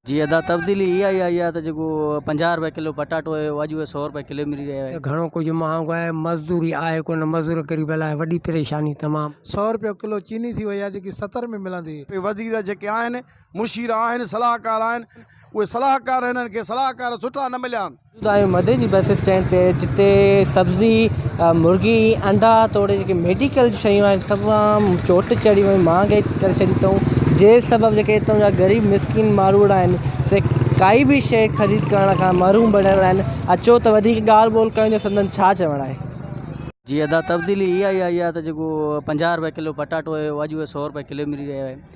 جي ادا تبديلي اها ئي آئي آهي ته جيڪو پنجاهه روپيه ڪلو پٽاٽو هيو اڄ اهو سؤ روپيه ڪلو ملي رهيو آهي. ته گهڻو ڪجهه مهانگو آهي مزدوري آهي ڪونه مزور غريب لاء وڏي پريشاني تمام. سؤ روپيه ڪلو چيني ٿي وئي آهي جيڪي ستر ۾ ملندي هئي. وزير جيڪي آهن مشير آهن صلاحڪار آهن اهي صلاحڪار هنن کي صلاحڪار سٺا نه مليا آهن. موجود آهيون مدي جي بس اسٽينڊ تي جتي سبزي مرغي انڊا توڙي جيڪي ميڊيڪل جي شيون آهن تمام چوٽ چڙهي ويون مهانگائي ڪري ڇڏي تئون جنهن سبب جيڪي هتان جا غريب مسڪين ماروئڙا آهن سي ڪائي به شيء خريد ڪرڻ کان محروم بڻيل آهن اچو ته وڌيڪ ڳالهه ٻولهه ڪيون جو سندن ڇا چوڻ آهي. جي ادا تبديلي اها ئي آئي آهي ته جيڪو پنجاهه روپيه ڪلو پٽاٽو هيو اڄ اهو سؤ روپيه ڪلو ملي رهيو آهي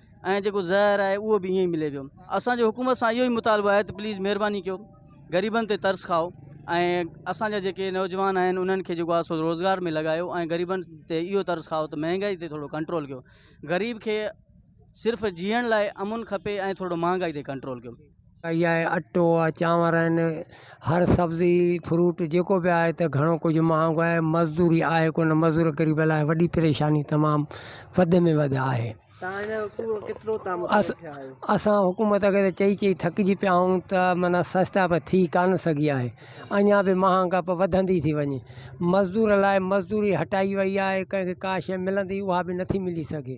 ۽ جيڪو زهر آهي اهو به ائين ئي ملي پيو اسان جو حڪومت سان اهو ئي مطالبو آهي ته پليز مهرباني ڪيو غريبن تي ترس کائو ۽ اسان جا جيڪي نوجوان آهن انهن کي جيڪو آسو روزگار ۾ لڳايو ۽ غريبن تي اهو ترس کائو ته مهانگائي تي ٿورو ڪنٽرول ڪيو غريب کي صرف جيئڻ لاء امن کپي ۽ ٿورو مهانگائي تي ڪنٽرول ڪيو اھي اٽو آھي چانور آھن ھر سبزي فروٽ جيڪو بي آھي تھ گھڻو ڪجھھ مھانگو آھي مزدوري آھي ڪونھ مزدور غريب لاء وڏي پريشاني تمام وڌ ۾ وڌ آھي اسان حڪومت کي تھ چئي چئي ٿڪجي پيا آھون تھ معنی سستا بھ ٿي ڪانھ سگھي آھي اڃا بھ مھانگپ وڌندي ٿي وڃي مزدور لاء مزدوري ھٽائي وئي آھي ڪنھن کي ڪا شيء ملندي اھا بھ نٿي ملي سگھي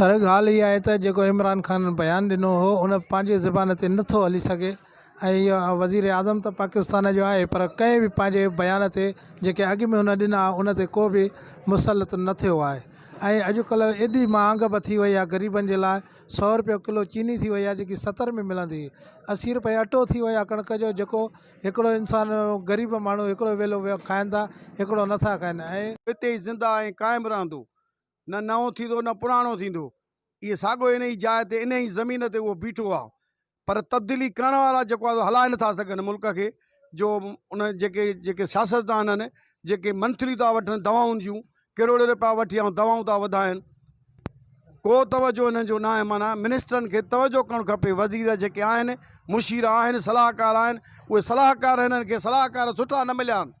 سر ڳالهه اها آهي ته جيڪو عمران خان بيان ڏنو هو ان پنهنجي زبان تي نه ٿو هلي سگهي ۽ اهو وزيراعظم ته پاڪستان جو آهي پر ڪنهن به پنهنجي بيان تي جيڪي اڳ ۾ هن ڏنا ان تي ڪو به مسلط نه ٿيو آهي ۽ اڄڪلهه ايڏي مهانگ به ٿي وئي آهي غريبن جي لاء سو رپيو ڪلو چيني ٿي وئي آهي جيڪي ستر ۾ ملندي هئي اسي رپئي اٽو ٿي ويو آهي ڪڻڪ جو جيڪو هڪڙو انسان غريب ماڻهو هڪڙو ويلو کائين ٿا هڪڙو نٿا کائين ۽ هتي ئي زنده ۽ قائم رهندو. نه نئون ٿيندو نه پراڻو ٿيندو. اهي ساڳيو ان ئي جاء تي ان ئي زمين تي اهو بيٺو آ پر تبديلي ڪرڻ وارا جيڪو آ سو هلائي نه ٿا سگهن ملڪ کي جو ان جيڪي جيڪي سياستدان آهن جيڪي منٿليون ٿا وٺن دوائن جون ڪروڙين رپيا وٺي ۽ دوائون ٿا وڌائن ڪو توجهه انهن جو ناهي معنيٰ منسٽرن کي توجهه ڪرڻ کپي وزير جيڪي آهن مشير آهن صلاحڪار آهن اهي صلاحڪار هنن کي صلاحڪار سٺا نه مليا آهن.